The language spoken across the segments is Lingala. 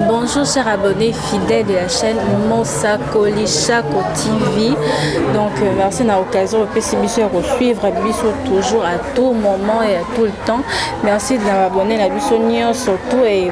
Bonjour chers abonnés fidèles de la chaîne Mosakoli Chako TV. Donc euh, merci na occasion opesi biso ya kosuivre biso toujours à tout moment et à tout le temps. Merci de na abonné na biso nyonso tout et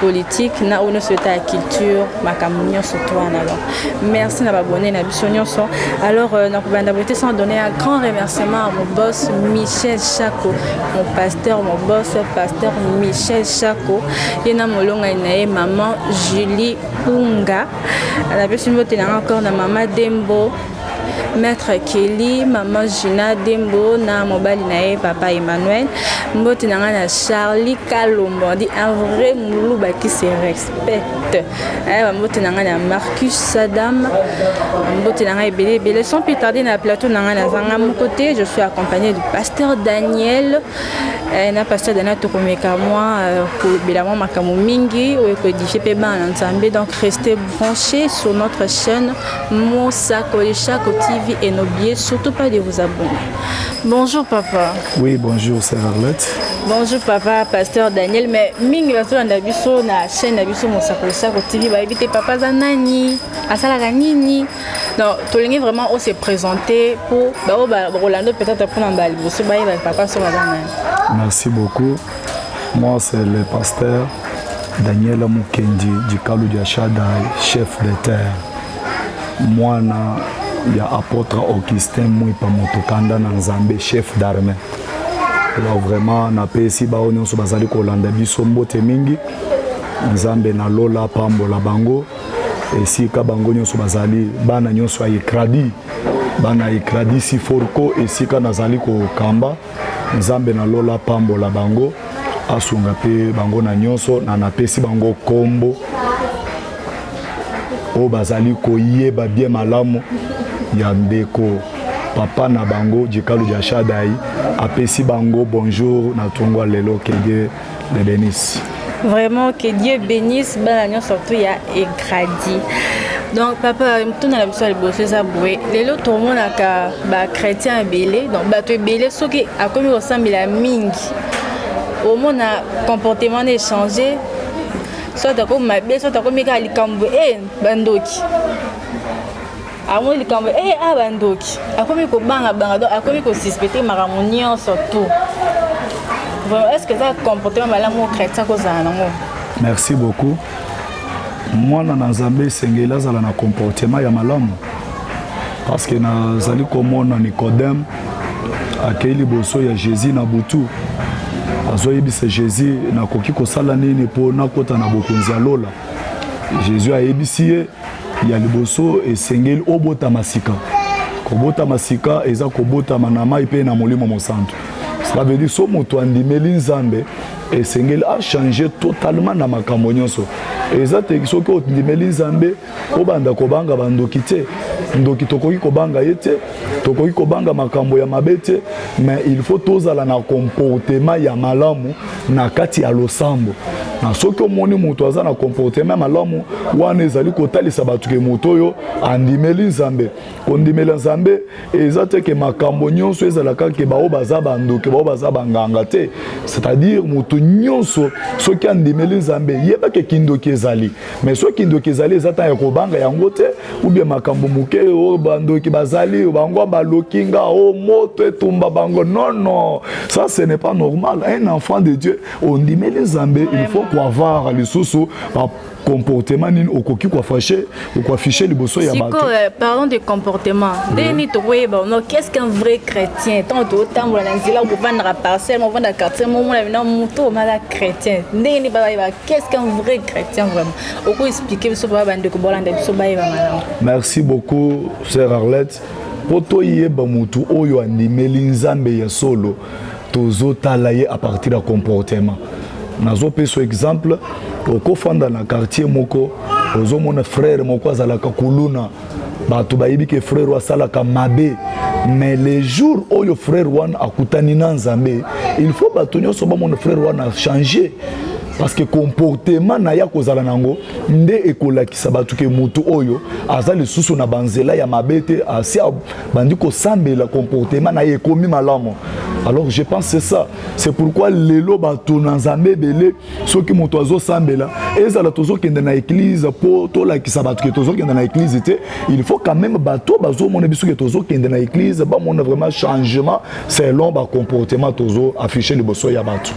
politique na oyo nyonso eta ya culture makambo nyonso to wana alors merci na babone na biso nyonso alors euh, nakobanda boye te sans donner un grand remerciement à mon boss michel chaco mon pasteur mon boss pasteur michel chaco ye na molongani na ye maman julie unga napesi mbote nanga encore na mama dembo Maître Kelly, maman Gina Dembo na mobali na ye papa Emmanuel. Mbote na ngai na Charlie Kalombo, dit un vrai muluba qui se respecte. Eh, mbote na ngai na Marcus Sadam. Mbote na ngai ebele ebele. Sans plus tarder na plateau na ngai na zanga mon côté, je suis accompagné du pasteur Daniel. Eh, na pasteur Daniel tokomeka mwa euh, kolobela mwa makambo mingi oyo ekodifie mpe bana na Nzambe. Donc restez branchés sur notre chaîne Mosakoli Shako TV et n'oubliez surtout pas de vous abonner. Bonjour papa. Oui, bonjour sœur Arlette. Bonjour papa, pasteur Daniel. Mais mingi bato landa biso na chaîne na biso Mosakoli Shako TV bayebi te papa za nani, asalaka nini. Donc tolingi vraiment on se présenter pour bao ba Rolando peut-être pour na ba liboso bayeba papa so baza nani. Merci beaucoup. Moi c'est le pasteur Daniel Mukendi du Kalu Diachada, chef de terre. mwana ya apôtre Augustin Mwipa Motokanda na Nzambe chef d'armée alors vraiment napesi baoyo nyonso bazali kolanda biso mbote mingi nzambe na lola apambola bango esika bango nyonso bazali bana nyonso ya ekradi bana ya ekradi siforko esika nazali kokamba Nzambe na lola apambola bango, asunga mpe bango na nyonso, na napesi bango nkombo oyo bazali koyeba bie malamu ya ndeko papa na bango Jikalu Jashadai apesi bango bonjour na tongwa lelo kede de Denise. Vraiment que Dieu bénisse bana nionso surtout ya Egradi. donc papa motuna na biso ya liboso eza boye lelo tomonaka bachrétien ebele donc bato ebele soki akomi kosambela mingi omona comportement na échange soit akomi mabe soit akomi kaka likambo e eh, bandoki amoni likambo ee eh, a bandoki akomi kobangabanga donc akomi kosuspecte makambo nyonso tout vraiment est ce que eza comportement malamu oyo chrétien kozala nango merci beaucoup mwana na nzambe esengeli azala na comportement ya malamu parce que nazali komona nicodème akei liboso ya jésus na butu azoyebisa jésus nakoki kosala nini mpo nakota na bokonzi ya lola jésus ayebisi ye Ya liboso, esengeli obotama sika. Kobotama sika eza kobotama na mai mpe na Molimo Mosantu. Cela veut dire so moto andimeli Nzambe esengeli achange totalement na makambo nyonso eza te soki ondimeli nzambe obanda kobanga bandoki te ndoki tokoki kobanga ye te tokoki kobanga makambo ya mabe te mais il faut tozala na comportement ya malamu na kati ya losambo na soki omoni moto aza na comportement ya malamu wana ezali kotalisa bato ke moto oyo andimeli nzambe kondimela nzambe eza te ke makambo nyonso ezala kaka ke baoyo baza bandoki baoyo baza banganga te c'est-à-dire moto nyonso soki andimeli nzambe yeba ke kindoki ezali mais soki kindoki ezali eza ntango ya kobanga yango te ubie makambo moke oyo oh, bandoki bazali oh, bango baloki nga o oh, moto etumba bango non non ça ce n'est pas normal un enfant de dieu ondimeli nzambe il faut koavoir lisusu comportement nini okoki koafashe okoafishe liboso ya bato euh, parlant de comportement ndenge nini tokoyeba no qu'est ce qu'un vrai chrétien ntango tokotambola na nzela okofandaka parcelle mofanda quartier momona bina moto omaka chrétien ndenge nini bayeba Qu'est-ce qu'un vrai chrétien vraiment Oko expliquer biso ba bande ko bolanda biso ba yeba malamu. Merci beaucoup sœur Arlette. Po to yeba mutu oyo andimeli Nzambe ya solo tozotala ye à partir ya comportement. Nazopesa exemple okofanda na quartier moko ozomona frère moko azalaka kuluna bato bayebi ke frere oyo asalaka mabe mais le jour oyo frere wana akutani na nzambe il faut bato nyonso bamona frere wana change parce que comportement na ye akozala nango nde ekolakisa bato ke moto oyo aza lisusu na banzela ya mabe te asi abandi kosambela comportement na ye ekomi malamu alors je pense c'est ça c'est pourquoi lelo bato na nzambe ebele soki moto azosambela ezala tozokende na eglize mpo tolakisa bato ke tozokende na eglize te il faut quand même bato bazomona biso ke tozokende na eglize bamona vraiment changement selon bacomportement tozo affiche liboso ya bato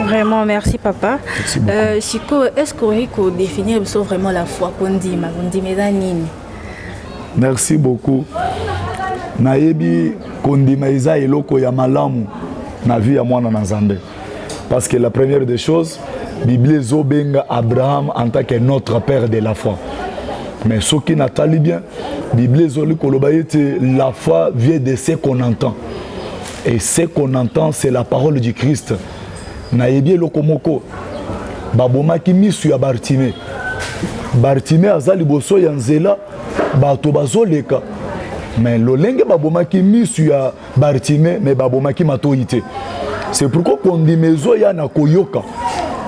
Vraiment, merci papa. Merci euh, Chico, est-ce qu'on peut définir vraiment la foi qu'on dit, ma qu'on dit, mais Merci beaucoup. Nayebi kondima eza eloko ya malamu na vie ya mwana na Nzambe. parce que la première des choses biblia ezobenga abraham en tant que notre père de la foi mais soki natali bien biblia ezali koloba ete la foi vient de ce qu'on entend et ce qu'on entend c'est la parole du christ nayebi eloko moko babomaki misu ya bartime bartime aza liboso ya nzela bato bazoleka mais lolenge babomaki misu ya Bartime mais babomaki matoyi te. C'est pourquoi kondima ezoya na koyoka.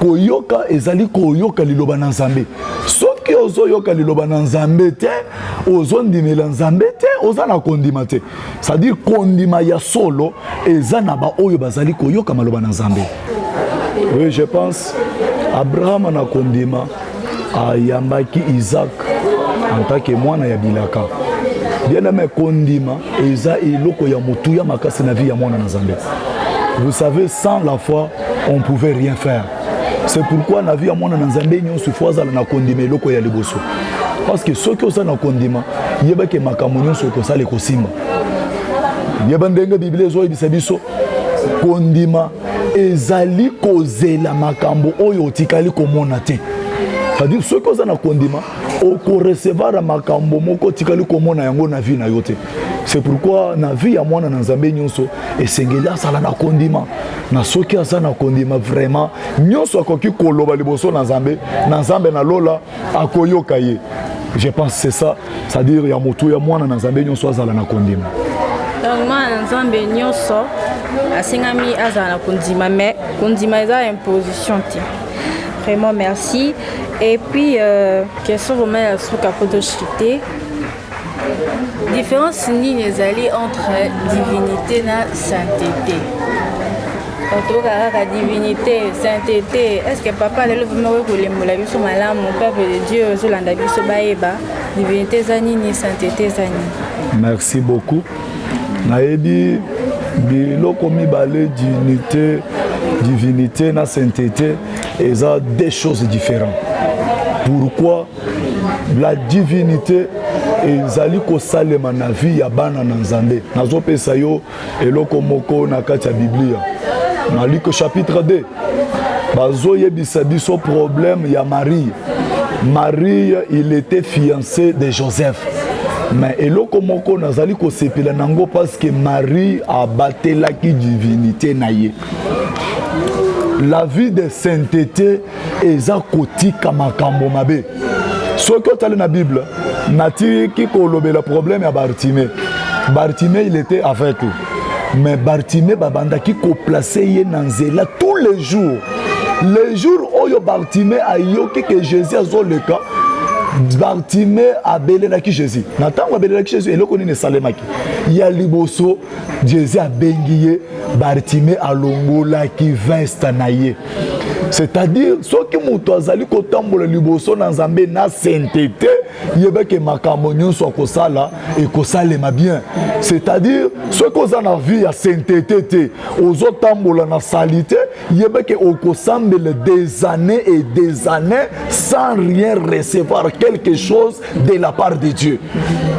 Koyoka ezali koyoka liloba na Nzambe. Soki ozoyoka liloba na Nzambe te, ozondimela Nzambe te, oza na kondima te. C'est-à-dire kondima ya solo eza na baoyo bazali koyoka maloba na Nzambe. Oui, je pense Abraham na kondima ayambaki isak en tant que mwana ya bilaka bieneme kondima eza eloko ya motuya makasi na vie ya mwana na nzambe vous savez sans la foi on pouvait rien faire c'est pourquoi na vie ya mwana na nzambe nyonso fo azala na kondima eloko ya liboso parce que soki oza na kondima yebaki makambo nyonso ekosala ekosimba yeba ndenge biblia ezoyebisa biso kondima ezali kozela makambo oyo otikali komona te cestadire soki oza na kondima okorecevara makambo moko otikali komona yango na vie na yo te c'est pourquoi na vie ya mwana na nzambe nyonso esengeli azala na kondima na soki aza na kondima vraiment nyonso akoki koloba liboso na nzambe na nzambe na lola akoyoka ye je pense c'est ça c'est à dire ya motu ya mwana na nzambe nyonso azala na kondima donc mwana na nzambe nyonso asengami azala na kondima mais kondima eza imposition te vraiment merci et puis euh, question vraiment ya suka poto chite Difference nini ezali entre divinité na sainteté otoka kaka divinité sainteté est ce que papa lelo vraimen okoki kolembola biso malamu peuple de dieu ozolanda biso bayeba divinité eza nini sainteté eza nini merci beaucoup nayebi biloko mibale divinité divinité na sainteté eza deux choses différentes pourquoi la divinité ezali kosalema na vie ya bana na nzambe nazopesa yo eloko moko na kati ya biblia na luke chapitre 2 bazoyebisa biso problème ya marie marie il était fiancé de joseph mais eloko moko nazali kosepela na yango parce que marie abatelaki divinité na ye la vie de sainteté eza kotika makambo mabe soki otali na bible natiki kolobela problème ya bartime bartime il était aveugle mais bartime babandaki koplace ye na nzela tous les jours le jour oyo bartime ayoki ke jésus azoleka bartime abelelaki jésus na ntango abelelaki jésus eloko nini esalemaki ya liboso Jésus abengi ye Bartime alongolaki veste na ye c'est-à-dire soki moto azali kotambola liboso na nzambe na saintete yebake makambo nyonso akosala ekosalema bien c'est-à-dire soki oza na vie ya saintete te ozotambola na salite yebake okosambela des années et des années sans rien recevoir quelque chose de la part de Dieu.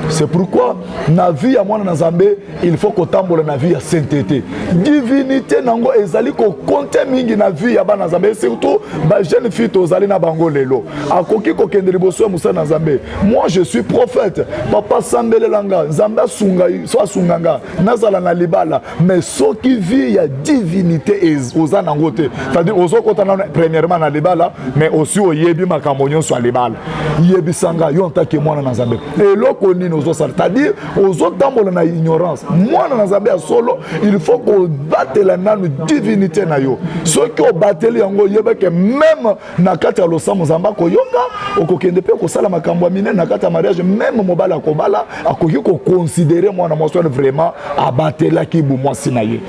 C'est pourquoi na vie ya mwana na Nzambe il faut kotambola na vie ya sainteté. Divinité nango ezali ko compter mingi na vie ya bana Nzambe surtout ba jeune fille tozali na bango lelo. Akoki kokende liboso ya mosala na Nzambe. Moi je suis prophète. Papa sambelelanga Nzambe asunga so asunga nga nazala na libala mais soki vie ya divinité oza nango te c'est-à-dire ozokota nano premièrement na libala mais osi oyebi makambo nyonso ya libala yebisa ngai yo ntake mwana na nzambe eloko nini ozosala c'est-à-dire ozotambola na ignorance mwana na nzambe ya solo il faut kobatela nanu divinité na yo soki obateli yango oyebake meme na kati ya losambo nzambe akoyoka okokende mpe kosala makambo ya minene na kati ya mariage meme mobali akobala akoki koconsidere mwana mwasi wana vraiment abatelaki bomwasi na ye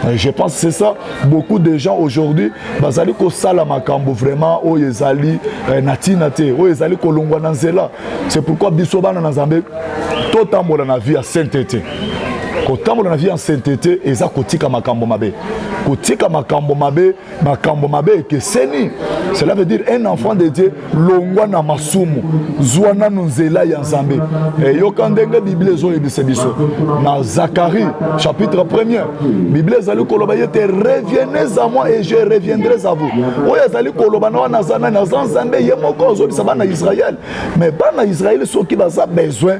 euh, je pense c'est ça beaucoup de gens aujourd'hui bazali kosala makambo vraiment oyo ezali euh, na ntina te oyo ezali kolongwa na nzela c'est pourquoi biso bana na nzambe totambola na vie ya saintete kotambola na vie ya saintete eza kotika makambo mabe kotika makambo mabe makambo mabe ekeseni cela veut dire un enfant de dieu longwa na masumu zwa nanu nzela ya nzambe eyoka eh, ndenge biblia ezoyebisa biso na zacharie chapitre premier biblia ezali koloba ye te revienez à moi et je reviendrai à vous oyo ezali koloba na wana aza nani aza nzambe ye moko azobisa bana israel mais bana israel soki baza besoin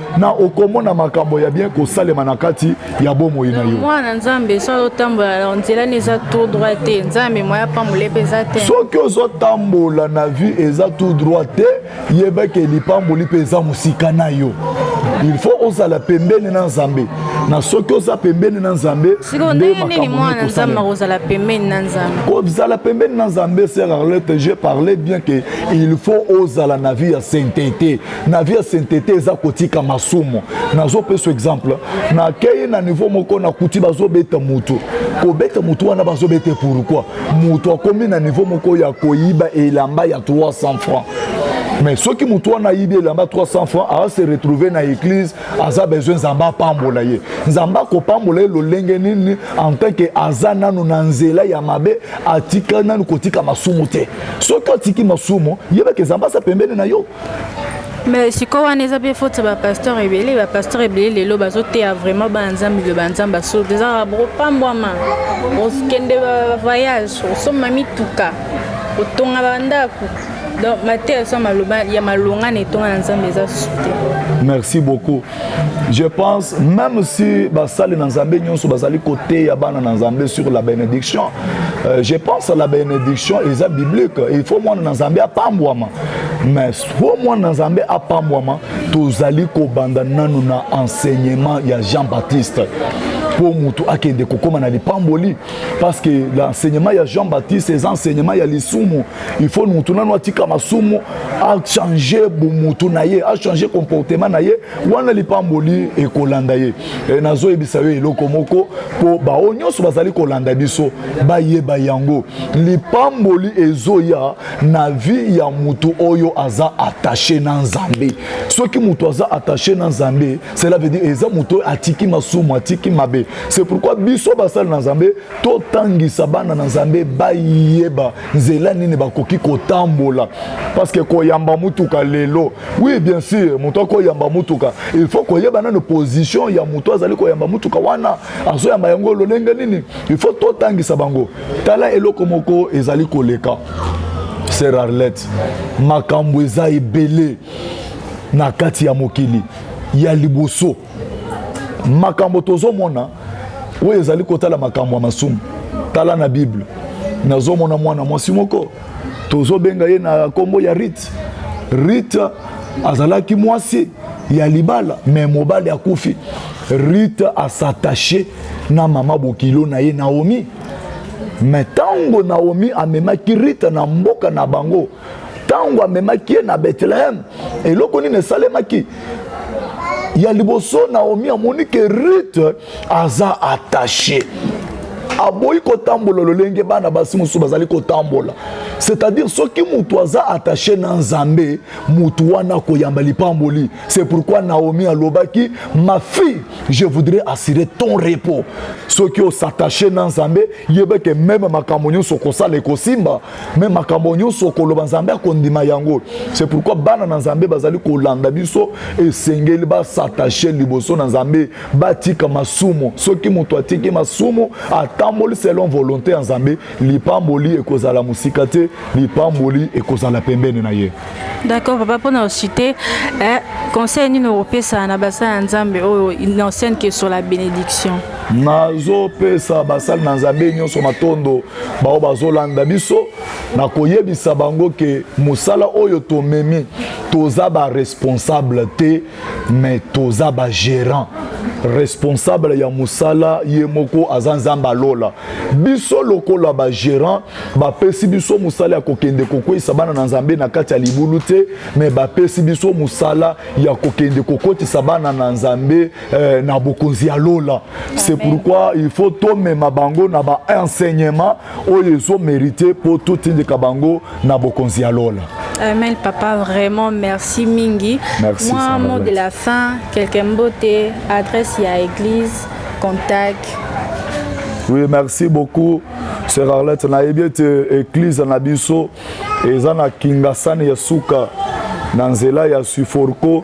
na okomona makambo ya bien kosalema na kati ya bomoi na yo mwana nzambe so azotambola nzela ni eza tout droit te nzambe moya pambola epe eza te soki ozotambola na vie eza tout droit te yeba ke lipamboli mpe eza mosika na yo il faut ozala pembeni na nzambe na soki oza pembeni na nzambe kozala pembeni na nzambe sera arlete je parlais bien que il faut ozala na vie ya saintete na vie ya saintete eza kotika masumu nazopesa exemple nakei na niveau moko nakuti bazobeta motu kobeta motu wana bazobeta pourkui motu akomi na niveau moko ya koyiba elamba ya 300 francs mais soki moto wana ayibi elamba 300 francs aza se retrouve na église aza besoin nzambe apambola ye nzambe akopambola ye lolenge nini en tant que aza nanu na nzela ya mabe atika nanu kotika masumu te soki atiki masumu yebaka nzambe aza pembeni na yo me sikoyo wana eza mpe foti ba pasteur ebele ba pasteur ebele lelo bazoteya vraiment bana nzambe biloba nzambe asolo te ezaka bopambwama okende bavoyage osomba mituka otonga bandako donc mateya so ya malonga na etonga na nzambe eza susu te merci beaucoup je pense même si basali na nzambe nyonso bazali koteya bana na nzambe sur la bénédiction euh, je pense la bénédiction eza biblique il faut mwana na nzambe apambwama mais po mwana na nzambe apambwama tozali kobanda nanu na enseignement ya jean baptiste mpo motu akende kokóma na lipamboli parce que l'enseignement ya jean baptiste eza enseignement ya lisumu il faut mutu nano atika masumu achange bomutu na ye achange comportement na ye wana lipamboli ekolanda ye e, nazoyebisa yo eloko moko mpo baoyo nyonso bazali kolanda biso bayeba yango lipamboli ezoya na vie ya mutu oyo aza attache na nzambe soki mutu aza attache na nzambe cela veut dire eza moto oyo atiki masumu atiki mabe c'est pourquoi biso basali na nzambe totangisa bana na nzambe bayeba nzela nini bakoki kotambola parce que koyamba motuka lelo oui bien sûr moto akoyamba motuka il faut koyeba nano position ya moto azali koyamba motuka wana azoyamba yango lolenge nini il faut totangisa bango tala eloko moko ezali koleka sera arlette makambo eza ebele na kati ya mokili ya liboso makambo tozomona oyo ezali kotala makambo ya masumu tala na bible nazomona mwana mwasi moko tozobenga ye na nkombo ya rite rite azalaki mwasi ya libala me mobali akufi rite asatache na mama bokilo na ye naomi me ntango naomi amemaki rite na mboka na bango ntango amemaki ye na bethleheme eloko nini esalemaki ya liboso naomi amoni ke rute aza attache aboyi kotambola lolenge bana basi mosusu bazali kotambola c'est-à-dire soki moto aza attache na nzambe moto wana akoyamba lipamboli c'est pourquoi naomi alobaki ma fille je voudrais assurer ton repos soki osatache na nzambe yebeke meme makambo nyonso okosala ekosimba me makambo nyonso okoloba nzambe akondima yango c'est pourquoi bana na nzambe bazali kolanda biso esengeli basatache liboso na nzambe batika masumu soki moto atiki masumu atamboli selon volonté ya nzambe lipamboli ekozala mosika te lipamboli ekozala pembeni na ye d'accord papa mpo na osite eh, conseil nini okopesa na basala ya nzambe oyo une ancienne que sur la bénédiction nazopesa basali na nzambe nyonso matondo baoyo bazolanda biso na koyebisa bango ke mosala oyo tomemi toza baresponsable te me toza bagérant responsable ya mosala ye moko aza nzambe alola biso lokola bagérant bapesi biso mosala ya kokende kokweisa bana na nzambe na kati ya libulu te me bapesi biso mosala ya kokende kokotisa bana na nzambe eh, na bokonzi ya lola c'est pourquoi il faut tomema bango na baenseignement oyo ezomerite mpo totindika bango na bokonzi ya lola Amen, papa, vraiment merci mingi. Merci, Moi, mot de la fin, quelqu'un beauté, adresse à église, contact. Oui, merci beaucoup, sœur Arlette. Na ebete église na biso, ezana kingasani ya suka, na nzela ya suforko.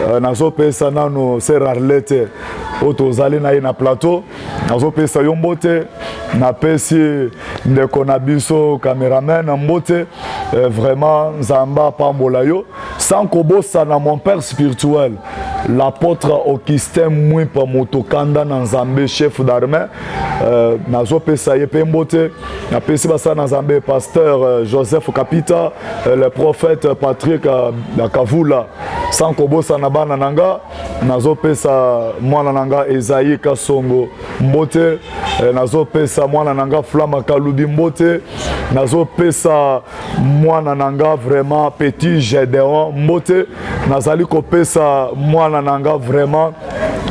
Euh, nazopesa nano ser arlete oyo tozali na ye na plateau nazopesa yo mbote napesi ndeko na biso cameraman mbote euh, vraiment nzambe apambola yo sans kobosana mon père spirituel l'apôtre augustin mwipa moto kanda na nzambe chef d'armée Euh, nazopesa ye mpe mbote napesi basala na nzambe pasteur euh, joseph kapita euh, le prophète patrick kavula sans kobosana bana na nga nazopesa mwana na nga ezai kasongo mbote nazopesa mwana na nga flama kalubi mbote nazopesa mwana na nga vraiment petit gedeon mbote nazali kopesa mwana na nga vraiment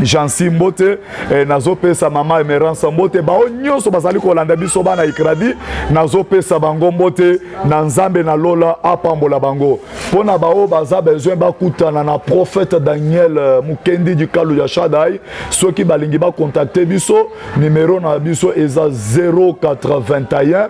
jansi mbote eh, nazopesa mama emerance mbote baoyo nyonso bazali kolanda biso bana ikradi nazopesa bango mbote na nzambe na lola apambola bango mpo na baoyo baza besoin bakutana na prophète daniel eh, mokendi dikalu ya shadai soki balingi bakontakte biso nimero na biso eza 081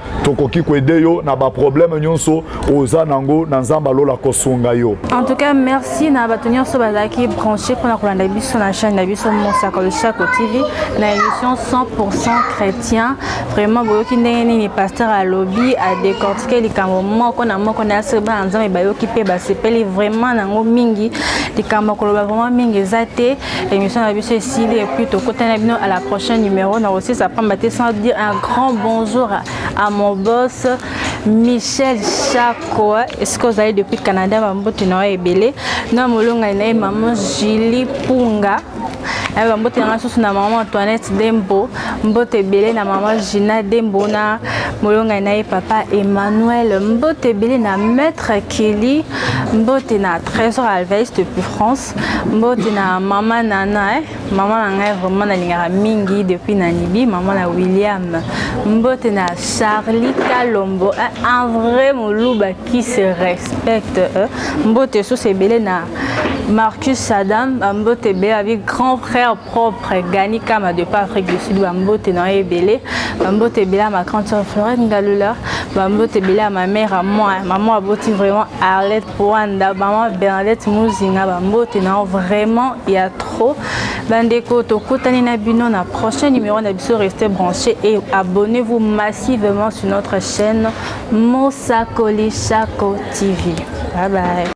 tokoki koede yo na baproblème nyonso oza nango na nzambe alola kosunga yo en tout cas merci na bato nyonso bazalaki branché mpona kolanda biso na chaîne na biso mosaka losako tv na émission 100% chrétien vraiment boyoki ndenge nini pasteur alobi adecortike likambo moko na moko na yasoi bana nzambe bayoki mpe basepeli vraiment nango mingi likambo ya koloba vraiment mingi eza te L'émission na biso esili et puis tokota na bino à la prochaine numéro na aussi ça pamba te sans dire un grand bonjour à mon boss Michel Chako est-ce que vous allez depuis Canada bambote na ebele na molonga na maman Julie Punga ayo bambote na ngai susu na mama antoinette dembo mbote ebele na mama gina dembo na molongai na ye papa emmanuel mbote ebele na maître kelly mbote na trésor alvaiste depuis france Mbote na mama Nana eh. Mama na ngai vraiment nalingaka mingi depuis na Nibi, mama na William. Mbote na Charlie Kalombo, eh, un vrai moluba qui se respecte. Eh. Mbote sous ebele na Marcus Sadam, Mbote ebele avec grand frère propre Gani Kama de pas Afrique du Sud, Mbote na ebele. Mbote ebele à ma grande soeur Florette Ngalula, Mbote ebele à ma mère à moi, maman aboti vraiment Arlette Rwanda maman Bernadette Muzinga bambote na vraiment ya trop bandeko tokutani na bino na prochain numéro na biso restez branché et abonnez-vous massivement sur notre chaîne Mosakoli Shako TV bye bye